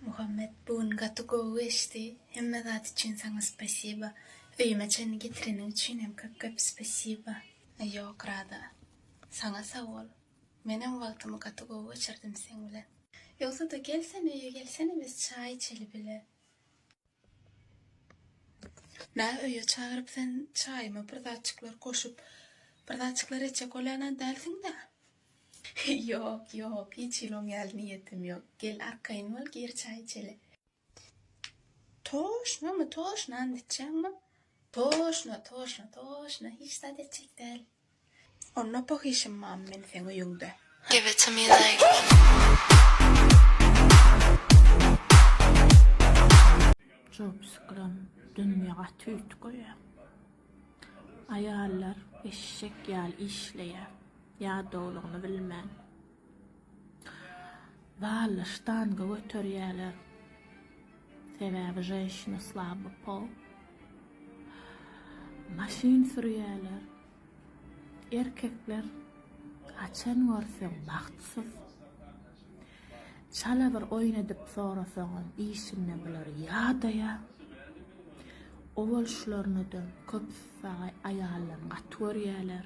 Muhammet bu gün gaty gowy geçdi. Hemme zat üçin saňa spasiba. Öýüme çenli getireniň üçin hem köp köp spasiba. Ýok Rada. Saňa sag bol. Menem wagtymy gaty gowy geçirdim seň bilen. Ýogsada gel sen öýe gelsene biz çaý içeli bile. Nä öýe çagyryp sen çaýyma bir zatjyklar goşup bir zatjyklar etjek bolýanam dälsiň-dä? Ýok, ýok, hiç hili-oň ýaly niýetim ýok. Gel arkaýyn bol, gir çaý içeli. Toşnamy, toşnany diýjäňmi? Toşna, toşna, toşna, hiç zat etjek däl. Onda pahyşym mam men seň öýüňde. Give it to me like. Çopsyklam dünýe gaty üýtgeýä. Aýallar eşek ýaly işleýä ýadawlygyny bilmän. Zalda ştanga göterýäler. Sebäbi ženşina slaby pol. Maşyn sürýäler. Erkekler haçan görseň bagtsyz. Çala bir oýun edip sorasaňam işinde bular ýadaýa. Owal şularnadan köp saga aýaldan gaty görýäler.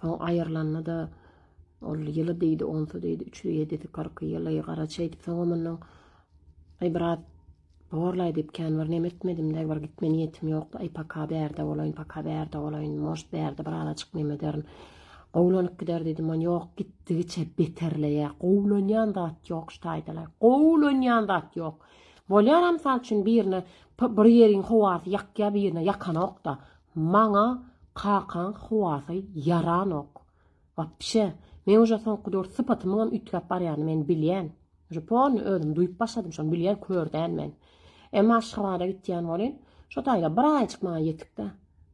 Soň aýyrylanda-da, ol ýyly diýdi, onsy diýdi, üçli, ýedisi, kyrky ýyly, garaçy eýdip, soňam mundan Aý, brat, borlaý diýip, kän bir neme etmedim-dä, bir gitme niýetim ýokdy. Aý, paka bärde bolaýyn, paka bärde bolaýyn, možt, bärde bir azajyk neme ederin. Gowlanyp gider diýdim, man ýok, gitdigiçe beterleýär. Gowlanýan zat ýok, ştaýdalaý, gowlanýan zat ýok. Bolýar-a, mysal üçin, birine bir ýeriň howasy ýakýar, birine ýakanok-da. Maňa kakaň howasy ýaranok. Wapşe, men uje soňky döwür sypatymyňam üýtgäp barýanyny men bilýän. Uje polny özüm duýup başladym şony bilýän kör däl men. Emma Aşgabada gitýän bolyn, şo taýda bir aýjyk maňa ýetik-dä.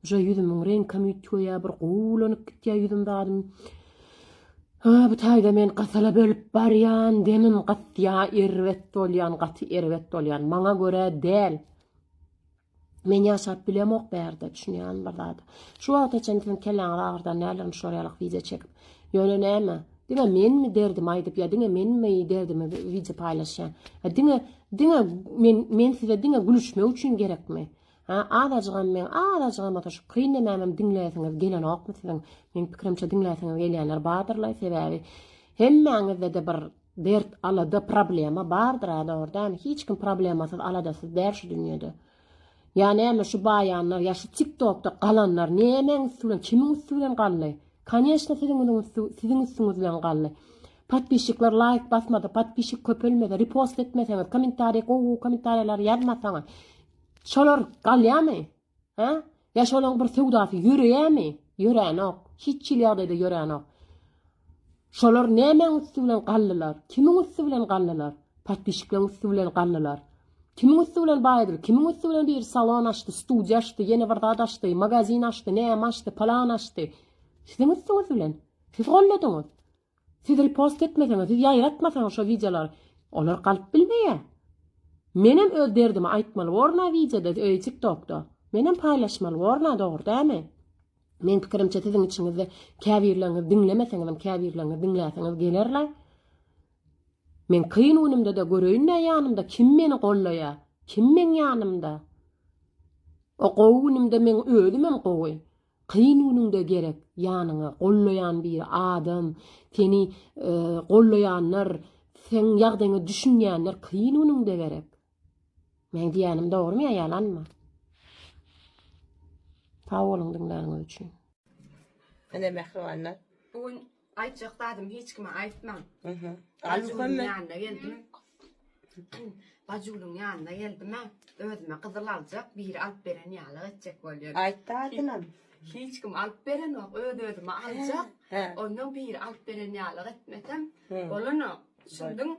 Uje ýüzümiň reňkem üýtgeýä, bir gowulanyp gitýä ýüzüm zadym. Hä, bu taýda men gysyla bölüp barýan, demim gysýa, erbet bolýan, gaty erbet bolýan. Maňa görä däl. Men ýaşap bilemok bärde, düşünýän bir zat. Şu wagta çenli sen kelläňi agyrdan nälerini şular ýalak wideo çekip. Ýöne näme? Diňe menmi derdimi aýdyp ýa diňe menmi derdimi wideo paýlaşýan? Ýa diňe diňe men men size diňe gülüşmek üçin gerekmi? Ha, azajygam men azajygam ata şu kyn nämämem diňläsiňiz gelenokmy siziň? Meň pikirimçe diňläsiňiz gelýänler bardyrlaý sebäbi hemmäňizde-de bir Dert alada problema bardyr a dogry dämi hiç kim problemasyz aladasyz däl şu dünýede. Ýa näme şu baýanlar ýa şu tik tokda galanlar nämäň üsti bilen kimiň üsti bilen galdy. Koneçna siziň üziň üsti siziň üstüňiz bilen galdy. Podpisçikler laýk basmasa podpisçik köpelmese repost etmeseňiz kommentariý gowy gowy kommentariýalary ýazmasaňyz şolar galýamy? Hä? Ýa şolaň bir söwdasy ýöreýämi? Ýöränok. Hiç hili ýagdaýda ýöränok. Şolar nämäň üsti bilen galdylar? Kimiň üsti bilen galdylar? Podpisçikleriň üsti bilen galdylar. Kimiň üsti bilen baýdylar? Kimiň üsti bilen biri salon açdy, studiýa açdy, ýene bir zat açdy, magazin açdy, näme açdy, palan açdy? Siziň üstüňiz bilen. Siz goldadyňyz. Siz repost etmeseňiz, siz ýaýratmasaňyz şo wideolary olar galyp bilmeýär. Menem öz derdimi aýtmaly borna wideoda öýi tik tokda. Menem paýlaşmaly borna dogry dämi? Meň pikirimçe siziň içiňizde käbirleriňiz diňlemeseňizem käbirleriňiz diňläseňiz gelerler. Men kyn günümdede göreýinä ýanymda kim meni gollaýa, kim meň ýanymda. O gowy günümde men özümem gowy. Kyn günüňde gerek ýanyňa gollaýan bir adam, seni gollaýanlar, seň ýagdaýyňa düşünýänler kyn günüňde gerek. Meň diýýänim dogrymy ýa ýalanmy? Sag boluň diňläniňiz üçin. Ene mähribanlar. Bu gün Aýtjak zadym hiç kime aýtman. Aha. Bajygülüň ýanyna geldim. Bajygülüň ýanyna geldim. Özüme gyzyl aljak, biri alyp beren ýaly etjek bolýan. Aýtdy adynam. Hiç kim alyp berenok, öz özüme aljak. Ondan biri alyp beren ýaly etmesem bolanok. Düşündin?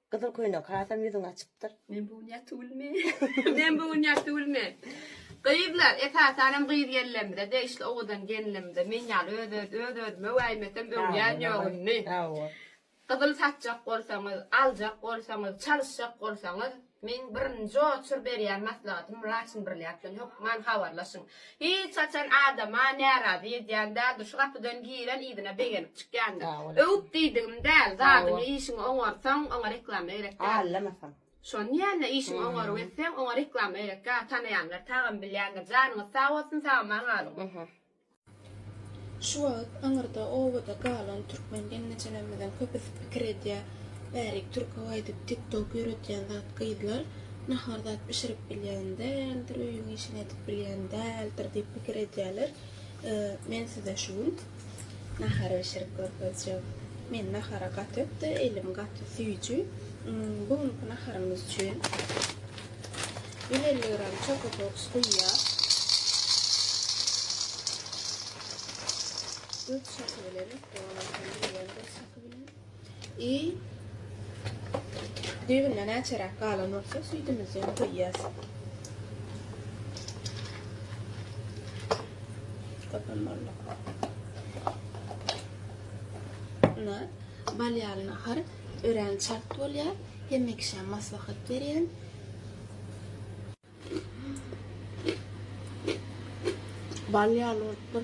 Gyzyl köýnek hasam ýüzüňi açypdyr. Men bu gün ýaty gülme. Men bu gün ýaty gülme. Gyzlar, esasan hem gyz gelnlerimize degişli owadan gelnlerimize men ýaly öz öz özüme wäýmesem öwýän ýok indi. Hawa. Gyzyl satjak bolsaňyz, aljak bolsaňyz, çalyşjak bolsaňyz, meň birinji oçur berýän maslahatym Raçin Brylýant bilen hökman habarlaşyň. Hiç haçan adama närazy edýän däldir, şu gapydan giren yzyna begenip çykýandyr. Öwüp diýdigim däl, zadyňy işiňi oňarsaň oňa reklama gerek däl. Şony diýende işiňi oňaryp etseň oňa reklama gerek däl, tanaýanlar tagam bilýändir. Janyňyz sag bolsun, sagama galyň. Şu wagt aňyrda obada galan türkmen gelnejelerimiziň köpüsi pikir edýär, Bärik türke gaýdyp tik tok ýöretýän zat gyzlar nahar zat bişirip bilýän däldir, öýüň işini edip bilýän däldir diýip pikir edýärler. Men size şu gün nahar bişirip görkezjek. Men nahara gaty ökde, elim gaty süýji. Bu günki naharymyz üçin. Ýene elli gram çokoboks guýýar. Dört şahy bilen, i düýbünden näçeräk galan bolsa süýdümizi guýýas. Köpem boldy. Buna bal ýalyny har örän çalt bolýar. Hemekşäm maslahat berýän. Bal ýaly bolupdyr.